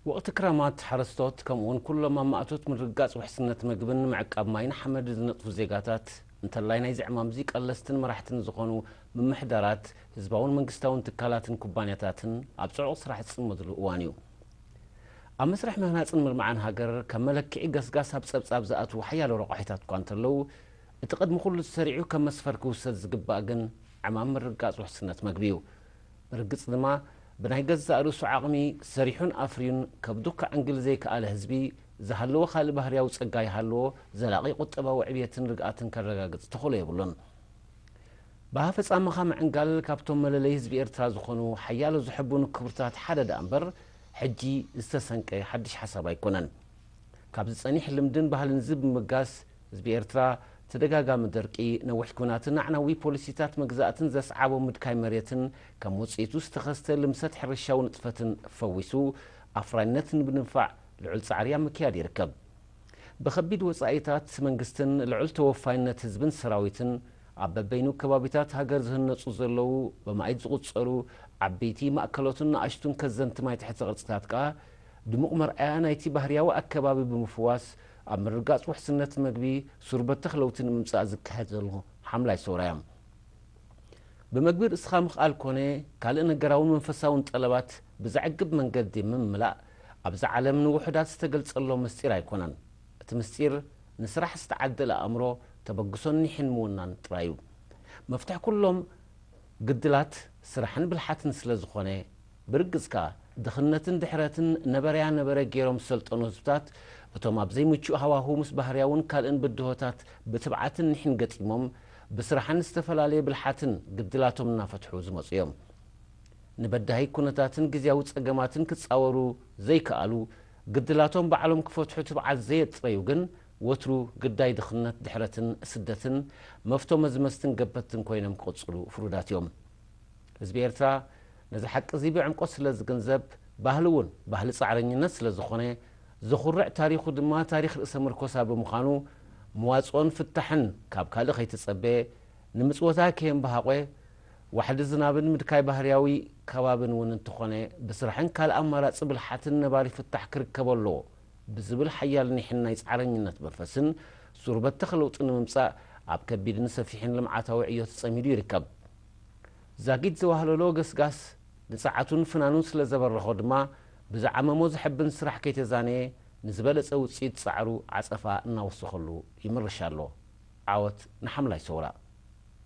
ወቕቲ ክራማት፣ ሓረስቶት ከምኡ'ውን ኩሎም ኣብ ማእቶት ምርግጋጽ ውሕስነት መግብን ምዕቃብ ማይን ሓመድ ዝነጥፉ ዜጋታት፣ እንተላይ ናይዚ ዕማም'ዚ ቀለስትን መራሕትን ዝኾኑ ምምሕዳራት፣ ህዝባውን መንግስታውን ትካላትን ኩባንያታትን ኣብ ጽዑቕ ስራሕ ዝጽመድሉ እዋን እዩ። ኣብ መስርሕ ምህናጽን ምልማዕን ሃገር ከም መለክዒ ገስጋስ ኣብ ጸብጻብ ዝኣትዉ ሓያሎ ረቋሒታት'ኳ እንተለዉ፣ እቲ ቅድሚ ኩሉ ተሰሪዑ ከም መስፈር ክውሰድ ዝግባእ ግን ዕማም ምርግጋጽ ውሕስነት መግቢ እዩ። ብርግጽ ድማ ብናይ ገዛእ ርእሱ ዓቕሚ ሰሪሑን ኣፍርዩን ከብዱ ከዕንግል ዘይከኣለ ህዝቢ፣ ዝሃለወ ካልእ ባህርያዊ ጸጋ ይሃልዎ ዘላቒ ቁጠባዊ ዕብየትን ርግኣትን ከረጋግጽ ተኽእሎ የብሉን። ብኣፈጻምኻ ምዕንጋል ካብቶም መለለዪ ህዝቢ ኤርትራ ዝኾኑ ሓያሎ ዘሐብኑ ክብርታት ሓደ ደኣምበር፣ ሕጂ ዝተሰንቀ ሓድሽ ሓሳብ ኣይኮነን። ካብ ዝጸኒሕ ልምድን ባህልን'ዚ ብምብጋስ፣ ህዝቢ ኤርትራ፣ ተደጋጋሚ ደርቂ፣ ነዊሕ ኲናትን ኣዕናዊ ፖሊሲታት መግዛእትን ዘስዓቦ ምድካይ መሬትን ከም ውጽኢቱ ዝተኸስተ ልምሰት ሕርሻዊ ንጥፈትን ፈዊሱ፣ ኣፍራይነት ንብንፋዕ ልዑል ጻዕሪ ኣብ ምክያድ ይርከብ። ብከቢድ ወጻኢታት መንግስትን ልዑል ተወፋይነት ህዝብን ሰራዊትን፣ ኣብ በበይኑ ከባቢታት ሃገር ዝህነጹ ዘለዉ ብማኢት ዝቑጸሩ ዓቢይቲ፣ ማእከሎትን ንኣሽቱን ከዘንቲ ማይ ትሕተ ቅርጺታት ከኣ፣ ድሙቕ መርኣያ ናይቲ ባህርያዊ ኣከባቢ ብምፍዋስ፣ ኣብ ምርግጋጽ ውሕስነት መግቢ፣ ሱር በተኽ ለውቲ ንምምጻእ ዝካየድ ዘሎ ሓምላይ ሰውራ'ያ። ብመግቢ ርእስኻ ምኽኣል ኮነ ካልእ ነገራውን መንፈሳውን ጠለባት ብዘዕግብ መንገዲ ምምላእ፣ ኣብ'ዛ ዓለም ንውሑዳት ዝተገልጸሎም ምስጢር ኣይኮነን። እቲ ምስጢር፣ ንስራሕ ዝተዓደለ ኣእምሮ፣ ተበግሶን ኒሕን ምውናን ጥራይ'ዩ። መፍትሕ ኩሎም ግድላት፣ ስራሕን ብልሓትን ስለዝኾነ፣ ብርግጽ ከኣ፣ ድኽነትን ድሕረትን ነበረያ ነበረ ገይሮም ዝሰልጠኑ ህዝብታት፣ እቶም ኣብ ዘይምቹእ ሃዋሁ ምስ ባህርያውን ካልእን ብድሆታት ብትብዓትን ኒሕን ገጢሞም፣ ብስራሕን ዝተፈላለየ ብልሓትን ግድላቶም እናፈትሑ ዝመጹ እዮም። ንበዳሂ ኩነታትን ግዝያዊ ጸገማትን ክጻወሩ ዘይከኣሉ፣ ግድላቶም ባዕሎም ክፈትሑ ትብዓት ዘየጽረዩ ግን፣ ወትሩ ግዳይ ድኽነት፣ ድሕረትን ስደትን፣ መፍቶ መዝመዝትን ገበትን ኮይኖም ክቕጽሉ ፍሩዳት እዮም። ህዝቢ ኤርትራ ነዚ ሓቂ'ዚ ብዕምቆት ስለ ዝግንዘብ፣ ባህሉ እውን ባህሊ ጻዕረኝነት ስለ ዝኾነ፣ ዘኹርዕ ታሪኹ ድማ ታሪኽ ርእሰ ምርኮሳ ብምዃኑ፣ መዋጽኦን ፍታሕን ካብ ካልእ ከይተጸበ፣ ንምጽወታ ከየምበሃቖ፣ ዋሕዲ ዝናብን ምድካይ ባህርያዊ ከባብን እውን እንተኾነ፣ ብስራሕን ካልእ ኣማራጺ ብልሓትን ነባሪ ፍታሕ ክርከቦ ኣለዎ ብዝብል ሓያል ኒሕን ናይ ጻዕረኝነት መንፈስን፣ ሱር በተኽ ለውጢ ንምምጻእ ኣብ ከቢድን ሰፊሕን ልምዓታዊ ዕዮ ተጸሚዱ ይርከብ። ዛጊት ዘዋህለሎ ገስጋስ ንጸዓቱን ፍናኑን ስለ ዘበረኾ ድማ፣ ብዝዓመሞ ዘሐብን ስራሕ ከይተዛነየ ንዝበለጸ ውጽኢት ጻዕሩ ዓጸፋ እናወሰኸሉ ይምርሽ ኣሎ። ዓወት ንሓምላይ ሰውራ!